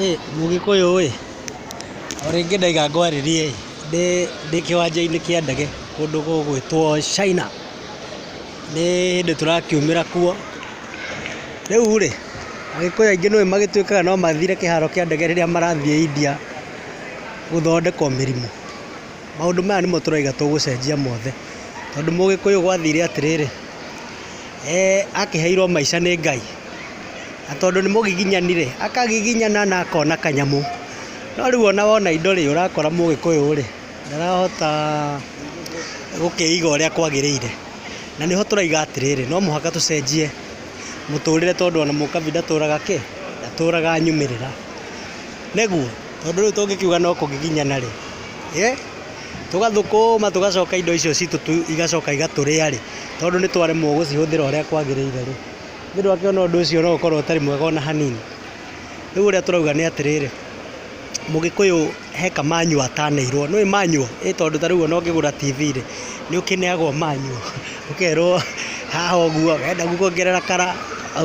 Ĩ mũgĩkũyũ ĩ, o rĩngĩ ndaiga ngwarĩrie ĩ, ndĩ kĩwanja-inĩ kĩa ndege kũndũ gũgwĩtwo China, nĩ hĩndĩ tũrakiumĩra kuo, rĩu rĩ, agĩkũyũ aingĩ nĩ ũĩ magĩtuĩkaga no mathire kĩharo kĩa ndege rĩrĩa marathiĩ India gũthondekwo mĩrimũ, maũndũ maya nĩmo tũrauga tũgũcenjia mothe, tondũ mũgĩkũyũ gwathire atĩrĩrĩ, akĩheirwo maica nĩ Ngai. na tondũ nĩ mũgiginyanire, akagiginyana na akona kanyamũ. No rĩu ona wona indo rĩ, ũrakora mũgĩkũyũ rĩ, ndarahota gũkĩiga ũrĩa kwagĩrĩire. Na nĩho tũraiga atĩrĩrĩ, no mũhaka tũcenjie mũtũrĩre tondũ ona mũkabi ndatũraga kĩ? Ndatũraga nyumĩrĩra. Nĩguo? Tondũ rĩu tũngĩkiuga no kũgiginyana rĩ, tũgathũkũũma tũgacoka indo icio citũ igacoka igatũrĩa rĩ, tondũ nĩ twaremwo gũcihũthĩra ũrĩa kwagĩrĩire rĩ. Nĩ ũndũ wa kĩo ũndũ ũcio no ũkorwo ũtarĩ mwega ona hanini. Rĩu ũrĩa tũrauga nĩ atĩrĩrĩ, mũgĩkũyũ he ka manual atanĩirwo. Nĩũĩ manual? Ĩĩ tondũ ta rĩu ona ũngĩgũra TV rĩ, nĩ ũkĩneagwo manual, ũkerwo haha ũguo, wenda kuongerera kara,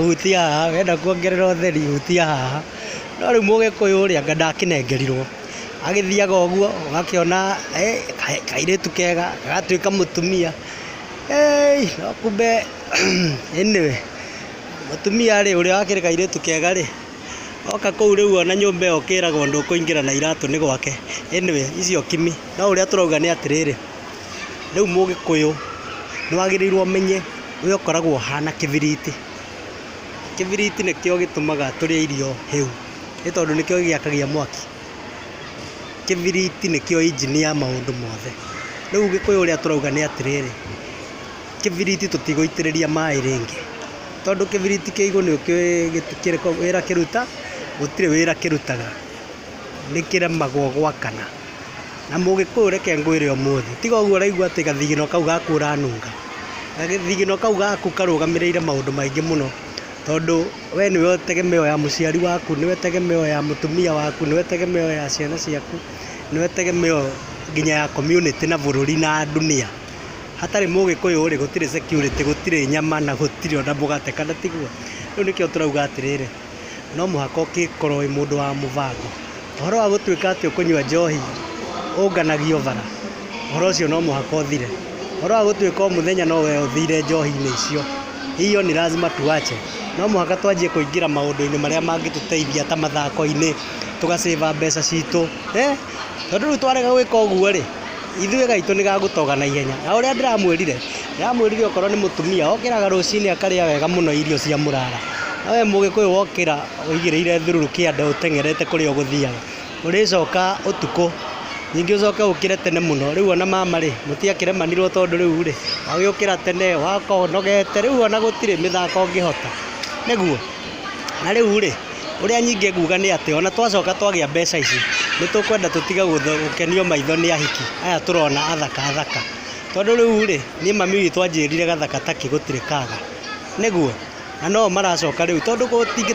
hutia haha, wenda kuongerera ũtheri, hutia haha. No rĩu mũgĩkũyũ rĩ, anga ndakĩnengerirwo. Agĩthiaga ũguo, ũgakĩona kairĩtu kega, gagatuĩka mũtumia, heei, no kumbe. Anyway, mũtumia rĩ, ũrĩa wakĩrĩ kairĩtu kega rĩ, oka kũu rĩu ona nyũmba ĩyo ũkĩragwo ndũkũingĩra na iratũ nĩ gwake. Anyway, icio kimi. No ũrĩa tũrauga nĩ atĩrĩrĩ, rĩu Mũgĩkũyũ nĩ wagĩrĩirwo ũmenye ũrĩa ũkoragwo ũhana kĩbiriti. Kĩbiriti nĩkĩo gĩtũmaga tũrĩe irio hĩu, nĩ tondũ nĩkĩo gĩgĩakagia mwaki. Kĩbiriti nĩkĩo injini ya maũndũ mothe. Rĩu Ũgĩkũyũ ũrĩa tũrauga nĩ atĩrĩrĩ. kĩbiriti tũtigũitĩrĩria maĩ rĩngĩ, tondũ kĩbiriti kĩa igũrũ nĩ kĩũĩ wĩra kĩruta, gũtirĩ wĩra kĩrutaga, nĩ kĩremagwo gwakana. Na mũgĩkũyũ reke ngwĩre ũmũthĩ, tiga ũguo ũraigua atĩ gathigino kau gaku ũranunga, gathigino kau gaku karũgamĩrĩire maũndũ maingĩ mũno, tondũ we nĩ we tegemeo ya mũciari waku, nĩ we tegemeo ya mũtumia waku, nĩ we tegemeo ya ciana ciaku, nĩ we tegemeo nginya ya community na bũrũri na ndunia. Hatarĩ mũgĩkũyũ rĩ gũtirĩ security, gũtirĩ nyama na gũtirĩ ona mũgate, kana tiguo? Rĩu nĩkĩo tũrauga atĩrĩrĩ, no mũhaka ũgĩkorwo wĩ mũndũ wa mũbango. Ũhoro wa gũtuĩka atĩ ũkũnyua njohi ũnganagio bara, ũhoro ũcio no mũhaka ũthire. Ũhoro wa gũtuĩka o mũthenya no we ũthire njohi-inĩ icio, hiyo ni lazima tuache. No mũhaka twanjie kũingĩra maũndũ-inĩ marĩa mangĩtũteithia ta mathako-inĩ, tũga save mbeca citũ, tondũ rĩu twarega gwĩka ũguo rĩ... Ithuĩ gaitũ nĩ gagũtoga na ihenya. Na ũrĩa ndĩramwĩrire, ndĩramwĩrire okorwo nĩ mũtumia, okĩraga rũcinĩ akarĩa wega mũno irio cia mũrara. No we mũgĩkũyũ wokĩra ũigĩrĩire thururu kĩande ũteng'erete kũrĩa ũgũthiaga, ũrĩcoka ũtukũ, ningĩ ũcoke ũkĩre tene mũno. Rĩu ona mama rĩ, mũtiakĩremanirwo tondũ rĩu rĩ, wagĩũkĩra tene, wakorwo ũnogete, rĩu ona gũtirĩ mĩthako ũngĩhota. Nĩguo? Na rĩu-rĩ, ũrĩa nyingĩ nguga nĩ atĩ ona twacoka twagĩa mbeca ici, nĩ tũkwenda tũtige gũkenio maitho nĩ ahiki aya tũrona athaka athaka. Tondũ rĩu-rĩ, niĩ mami witũ anjĩrire gathaka ta ki gũtirĩ kaga. Nĩguo? Na no o maracoka rĩu tondũ gũtingĩ...